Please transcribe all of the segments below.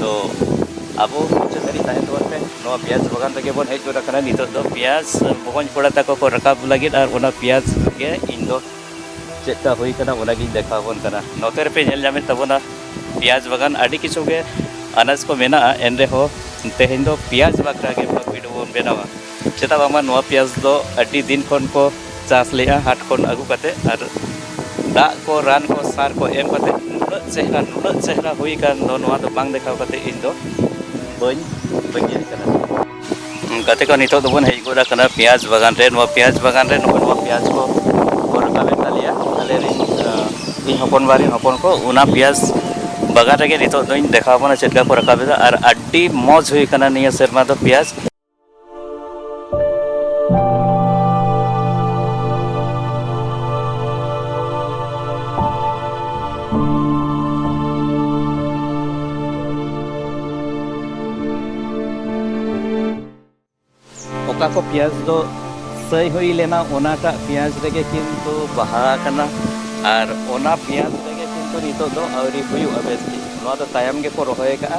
ᱛᱚ ᱟᱵᱚ ᱢᱩᱪᱟᱹᱫ ᱫᱷᱟᱹᱨᱤᱡ ᱛᱟᱦᱮᱱ ᱛᱟᱵᱚᱱ ᱯᱮ ᱱᱚᱣᱟ ᱯᱮᱸᱭᱟᱡᱽ ᱵᱟᱜᱟᱱ ᱨᱮᱜᱮ ᱵᱚᱱ ᱦᱮᱡ ᱜᱚᱫ ᱟᱠᱟᱱᱟ ᱱᱤᱛᱚᱜ ᱫᱚ ᱯᱮᱸᱭᱟᱡᱽ ᱵᱚᱠᱚᱧ ᱠᱚᱲᱟ ᱛᱟᱠᱚ ᱠᱚ ᱨᱟᱠᱟᱵ ᱞᱟᱹᱜᱤᱫ ᱟᱨ ᱚᱱᱟ ᱯᱮᱸᱭᱟᱡᱽ ᱜᱮ ᱤᱧ ᱫᱚ ᱪᱮᱫ ᱞᱮᱠᱟ ᱦᱩᱭ ᱠᱟᱱᱟ ᱚᱱᱟᱜᱤᱧ ᱫᱮᱠᱷᱟᱣ ᱟᱵᱚᱱ ᱠᱟᱱᱟ ᱱᱚᱛᱮ ᱨᱮᱯᱮ ᱧᱮᱞ ᱧᱟᱢᱮᱫ ᱛᱟᱵᱚᱱᱟ ᱯᱮᱸᱭᱟᱡᱽ ᱵᱟᱜᱟᱱ ᱟᱹᱰᱤ ᱠᱤᱪᱷᱩ ᱜᱮ ᱟᱱᱟᱡᱽ ᱠᱚ ᱢᱮᱱᱟᱜᱼᱟ ᱮᱱ ᱨᱮᱦᱚᱸ ᱛᱮᱦᱮᱧ ᱫᱚ ᱯᱮᱸᱭᱟᱡᱽ ᱵᱟᱠᱷᱨᱟ ᱜᱮ ᱵᱷᱤᱰᱤᱭᱳ ᱵᱚᱱ ᱵᱮᱱᱟᱣᱟ ᱪᱮᱫᱟᱜ ᱵᱟᱝᱢᱟ ᱱᱚᱣᱟ ᱯᱮᱸᱭᱟᱡᱽ ᱫᱚ ᱟᱹᱰᱤ ᱫᱤᱱ ᱠᱷᱚᱱ ᱠᱚ ᱪᱟᱥ ᱞᱮᱫᱼᱟ ᱦᱟᱴ ᱠᱷᱚᱱ ᱟᱹᱜᱩ ᱠᱟᱛᱮᱫ ᱟᱨ ᱫᱟᱜ ᱠᱚ ᱨᱟᱱ ᱠᱚ ᱥᱟᱨ ᱠᱚ ᱮᱢ ᱠᱟᱛᱮᱫ ᱱᱩᱱᱟᱹᱜ ᱪᱮᱦᱨᱟ ᱱᱩᱱᱟᱹᱜ ᱪᱮᱦᱨᱟ ᱦᱩᱭ ᱟᱠᱟᱱ ᱫᱚ ᱱᱚᱣᱟ ᱫᱚ ᱵᱟᱝ ᱫᱮᱠᱷᱟᱣ ᱠᱟᱛᱮᱫ ᱤᱧ ᱫᱚ ᱵᱟᱹᱧ ᱵᱟᱹᱧ ᱧᱮᱞ ᱟᱠᱟᱫᱟ ᱜᱟᱛᱮ ᱠᱚ ᱱᱤᱛᱚᱜ ᱫᱚᱵᱚᱱ ᱦᱮᱡ ᱜᱚᱫ ᱟᱠᱟᱱᱟ ᱯᱮᱸᱭᱟᱡᱽ ᱵᱟᱜᱟᱱ ᱨᱮ ᱱᱚᱣᱟ ᱯᱮᱸᱭᱟᱡᱽ ᱵᱟᱜᱟᱱ ᱨᱮ ᱱᱚᱜᱼᱚᱭ ᱱᱚᱣᱟ ᱯᱮᱸᱭᱟᱡᱽ ᱠᱚ ᱠᱚ ᱨᱟᱠᱟᱵᱮᱫ ᱛᱟᱞᱮᱭᱟ ᱟᱞᱮ ᱨᱮᱱ ᱤᱧ ᱦᱚᱯᱚᱱ ᱵᱟ ᱨᱮᱱ ᱦᱚᱯᱚᱱ ᱠᱚ ᱚᱱᱟ ᱯᱮᱸᱭᱟᱡᱽ ᱵᱟᱜᱟᱱ ᱨᱮᱜᱮ ᱱᱤᱛᱚᱜ ᱫᱚᱧ ᱫᱮᱠᱷᱟᱣ ᱟᱵᱚᱱᱟ ᱪᱮᱫ ᱞᱮᱠᱟ ᱠᱚ ᱨᱟᱠᱟᱵ ᱮᱫᱟ ᱟᱨ ᱟᱹᱰᱤ ᱢᱚᱡᱽ ᱦᱩᱭ ᱟᱠᱟᱱᱟ ᱱᱤᱭᱟᱹ ᱥᱮᱨᱢᱟ ᱫᱚ ᱯᱮᱸᱭᱟᱡᱽ ᱚᱠᱟ ᱠᱚ ᱯᱮᱸᱭᱟᱡᱽ ᱫᱚ ᱥᱟᱹᱭ ᱦᱩᱭ ᱞᱮᱱᱟ ᱚᱱᱟᱴᱟᱜ ᱯᱮᱸᱭᱟᱡᱽ ᱨᱮᱜᱮ ᱠᱤᱱᱛᱩ ᱵᱟᱦᱟ ᱟᱠᱟᱱᱟ ᱟᱨ ᱚᱱᱟ ᱯᱮᱸᱭᱟᱡᱽ ᱨᱮᱜᱮ ᱠᱤᱱᱛᱩ ᱱᱤᱛᱚᱜ ᱫᱚ ᱟᱹᱣᱨᱤ ᱦᱩᱭᱩᱜᱼᱟ ᱵᱮᱥ ᱴᱷᱤᱠ ᱱᱚᱣᱟ ᱫᱚ ᱛᱟᱭᱚᱢ ᱜᱮᱠᱚ ᱨᱚᱦᱚᱭ ᱟᱠᱟᱫᱼᱟ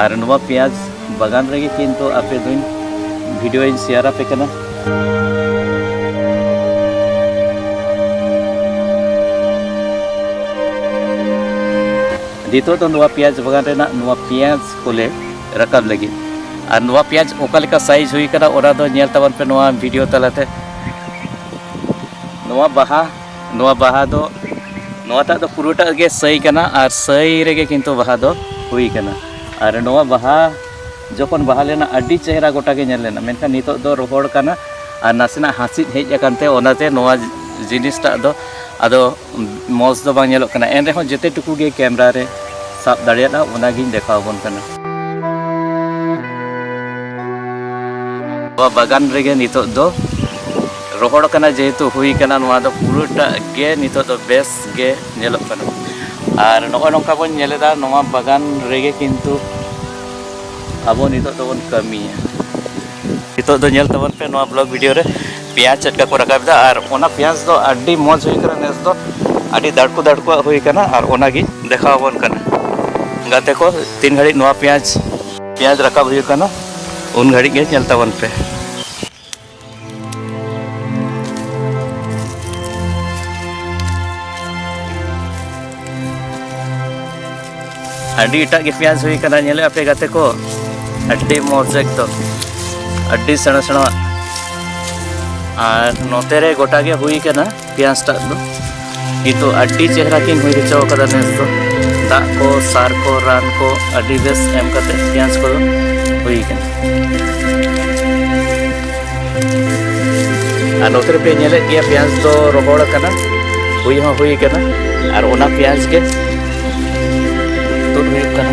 ᱟᱨ ᱱᱚᱣᱟ ᱯᱮᱸᱭᱟᱡᱽ ᱵᱟᱜᱟᱱ ᱨᱮᱜᱮ ᱠᱤᱱᱛᱩ ᱟᱯᱮ ᱫᱚᱧ ᱵᱷᱤᱰᱤᱭᱳᱧ ᱥᱮᱭᱟᱨ ᱟᱯᱮ ᱠᱟᱱᱟ ᱱᱤᱛᱚᱜ ᱫᱚ ᱱᱚᱣᱟ ᱯᱮᱸᱭᱟᱡᱽ ᱵᱟᱜᱟᱱ ᱨᱮᱱᱟᱜ ᱱᱚᱣᱟ ᱯᱮᱸᱭᱟᱡᱽ ᱠᱚᱞᱮ ᱨᱟᱠᱟᱵ ᱞᱟᱹᱜᱤᱫ ᱟᱨ ᱱᱚᱣᱟ ᱯᱮᱸᱭᱟᱡᱽ ᱚᱠᱟ ᱞᱮᱠᱟ ᱥᱟᱭᱤᱡᱽ ᱦᱩᱭ ᱟᱠᱟᱱᱟ ᱚᱱᱟ ᱫᱚ ᱧᱮᱞ ᱛᱟᱵᱚᱱ ᱯᱮ ᱱᱚᱣᱟ ᱵᱷᱤᱰᱤᱭᱳ ᱛᱟᱞᱟᱛᱮ ᱱᱚᱣᱟ ᱵᱟᱦᱟ ᱱᱚᱣᱟ ᱵᱟᱦᱟ ᱫᱚ ᱱᱚᱣᱟᱴᱟᱜ ᱫᱚ ᱯᱩᱨᱟᱹᱴᱟᱜ ᱜᱮ ᱥᱟᱹᱭ ᱠᱟᱱᱟ ᱟᱨ ᱥᱟᱹᱭ ᱨᱮᱜᱮ ᱠᱤᱱᱛᱩ ᱵᱟᱦᱟ ᱫᱚ ᱦᱩᱭ ᱠᱟᱱᱟ ᱟᱨ ᱱᱚᱣᱟ ᱵᱟᱦᱟ ᱡᱚᱠᱷᱚᱱ ᱵᱟᱦᱟ ᱞᱮᱱᱟ ᱟᱹᱰᱤ ᱪᱮᱦᱨᱟ ᱜᱚᱴᱟ ᱜᱮ ᱧᱮᱞ ᱞᱮᱱᱟ ᱢᱮᱱᱠᱷᱟᱱ ᱱᱤᱛᱚᱜ ᱫᱚ ᱨᱚᱦᱚᱲ ᱠᱟᱱᱟ ᱟᱨ ᱱᱟᱥᱮᱱᱟᱜ ᱦᱟᱸᱥᱤᱫ ᱦᱮᱡ ᱟᱠᱟᱱ ᱛᱮ ᱚᱱᱟᱛᱮ ᱱᱚᱣᱟ ᱡᱤᱱᱤᱥᱴᱟᱜ ᱫᱚ ᱟᱫᱚ ᱢᱚᱡᱽ ᱫᱚ ᱵᱟᱝ ᱧᱮᱞᱚᱜ ᱠᱟᱱᱟ ᱮᱱ ᱨᱮᱦᱚᱸ ᱡᱮᱛᱮ ᱴᱩᱠᱩ ᱜᱮ ᱠᱮᱢᱨᱟ ᱨᱮ ᱥᱟᱵ ᱫᱟᱲᱮᱭᱟᱫᱟ ᱚᱱᱟᱜᱤᱧ ᱫᱮᱠᱷᱟᱣ ᱟᱵᱚᱱ ᱠᱟᱱᱟ ᱱᱚᱣᱟ ᱵᱟᱜᱟᱱ ᱨᱮᱜᱮ ᱱᱤᱛᱚᱜ ᱫᱚ ᱨᱚᱦᱚᱲ ᱠᱟᱱᱟ ᱡᱮᱦᱮᱛᱩ ᱦᱩᱭ ᱠᱟᱱᱟ ᱱᱚᱣᱟ ᱫᱚ ᱯᱩᱨᱟᱹᱴᱟᱜ ᱜᱮ ᱱᱤᱛᱚᱜ ᱫᱚ ᱵᱮᱥ ᱜᱮ ᱧᱮᱞᱚᱜ ᱠᱟᱱᱟ ᱟᱨ ᱱᱚᱜᱼᱚᱭ ᱱᱚᱝᱠᱟ ᱵᱚᱱ ᱧᱮᱞ ᱮᱫᱟ ᱱᱚᱣᱟ ᱵᱟᱜᱟᱱ ᱨᱮᱜᱮ ᱠᱤᱱᱛᱩ ᱟᱵᱚ ᱱᱤᱛᱚᱜ ᱫᱚᱵᱚᱱ ᱠᱟᱹᱢᱤᱭᱟ ᱱᱤᱛᱚᱜ ᱫᱚ ᱧᱮᱞ ᱛᱟᱵᱚᱱ ᱯᱮ ᱱᱚᱣᱟ ᱵᱞᱚᱜ ᱵᱷᱤᱰᱤᱭᱳ ᱨᱮ ᱯᱮᱸᱭᱟᱡᱽ ᱪᱮᱫ ᱞᱮᱠᱟ ᱠᱚ ᱨᱟᱠᱟᱵ ᱮᱫᱟ ᱟᱨ ᱚᱱᱟ ᱯᱮᱸᱭᱟᱡᱽ ᱫᱚ ᱟᱹᱰᱤ ᱢᱚᱡᱽ ᱦᱩᱭ ᱠᱟᱱᱟ ᱱᱮᱥ ᱫᱚ ᱟᱹᱰᱤ ᱫᱟᱲᱠᱩ ᱫᱟᱲᱠᱩᱣᱟᱜ ᱦᱩᱭ ᱠᱟᱱᱟ ᱟᱨ ᱚᱱᱟᱜᱮ ᱫᱮᱠᱷᱟᱣ ᱟᱵᱚᱱ ᱠᱟᱱᱟ ᱜᱟᱛᱮ ᱠᱚ ᱛᱤᱱ ᱜᱷᱟᱹᱲᱤᱡ ᱱᱚᱣᱟ ᱯᱮᱸᱭᱟᱡᱽ ᱯᱮᱸᱭᱟᱡᱽ ᱨᱟᱠᱟᱵ ᱦᱩᱭᱩᱜ ᱠᱟᱱᱟ ᱩᱱ ᱜᱷᱟᱹᱲᱤᱡ ᱜᱮ ᱧᱮᱞ ᱛᱟᱵᱚᱱ ᱯᱮ ᱟᱹᱰᱤ ᱮᱴᱟᱜ ᱜᱮ ᱯᱮᱸᱭᱟᱡᱽ ᱦᱩᱭ ᱠᱟᱱᱟ ᱧᱮᱞᱮᱫ ᱟᱯᱮ ᱜᱟᱛᱮ ᱠᱚ ᱟᱹᱰᱤ ᱢᱚᱡᱽ ᱮᱠᱫᱚᱢ ᱟᱹᱰᱤ ᱥᱮᱬᱟ ᱥᱮᱬᱟ ᱟᱨ ᱱᱚᱛᱮ ᱨᱮ ᱜᱚᱴᱟ ᱜᱮ ᱦᱩᱭ ᱠᱟᱱᱟ ᱯᱮᱸᱭᱟᱡᱽ ᱴᱟᱜ ᱫᱚ ᱱᱤᱛᱚᱜ ᱟᱹᱰᱤ ᱪᱮᱦᱨᱟ ᱠᱤᱱ ᱦᱩᱭ ᱦᱚᱪᱚ ᱟᱠᱟᱫᱟ ᱱᱮᱥ ᱫᱚ ᱫᱟᱜ ᱠᱚ ᱥᱟᱨ ᱠᱚ ᱨᱟᱱ ᱠᱚ ᱟᱹᱰᱤ ᱵᱮᱥ ᱮᱢ ᱠᱟᱛᱮ ᱯᱮᱸᱭᱟᱡᱽ ᱠᱚᱫᱚ ᱦᱩᱭ ᱟᱠᱟᱱᱟ ᱟᱨ ᱱᱚᱛᱮ ᱨᱮᱯᱮ ᱧᱮᱞᱮᱫ ᱜᱮᱭᱟ ᱯᱮᱸᱭᱟᱡᱽ ᱫᱚ ᱨᱚᱦᱚᱲ ᱟᱠᱟᱱᱟ ᱦᱩᱭ ᱦᱚᱸ ᱦᱩᱭ ᱟᱠᱟᱱᱟ ᱟᱨ ᱚᱱᱟ ᱯᱮᱸᱭᱟᱡᱽ ᱜᱮ ᱛᱩᱫ ᱦᱩᱭᱩᱜ ᱠᱟᱱᱟ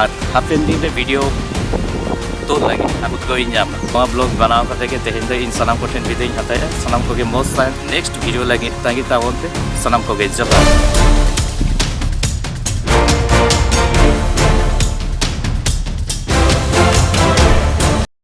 ᱟᱨ ᱦᱟᱯᱮᱱ ᱫᱤᱱ ᱨᱮ ᱵᱷᱤᱰᱤᱭᱳ ᱛᱩᱫ ᱞᱟᱹᱜᱤᱫ ᱟᱨ ᱩᱫᱽᱜᱟᱹᱣ ᱤᱧ ᱧᱟᱢᱟ ᱱᱚᱣᱟ ᱵᱞᱚᱜ ᱵᱮᱱᱟᱣ ᱠᱟᱛᱮ ᱜᱮ ᱛᱮᱦᱮᱧ ᱫᱚ ᱤᱧ ᱥᱟᱱᱟᱢ ᱠᱚᱴᱷᱮᱱ ᱵᱤᱫᱟᱹᱭᱤᱧ ᱦᱟᱛᱟᱣᱮᱫᱼᱟ ᱥᱟᱱᱟᱢ ᱠᱚᱜᱮ ᱢᱚᱡᱽ ᱛᱟᱦᱮᱱ ᱱᱮᱠᱥᱴ ᱵᱷᱤᱰᱤᱭᱳ ᱞᱟᱹᱜᱤᱫ ᱛᱟᱺᱜᱤ ᱛᱟᱵᱚᱱ ᱯᱮ ᱥᱟᱱᱟᱢ ᱠᱚᱜᱮ ᱡᱚᱦᱟᱨ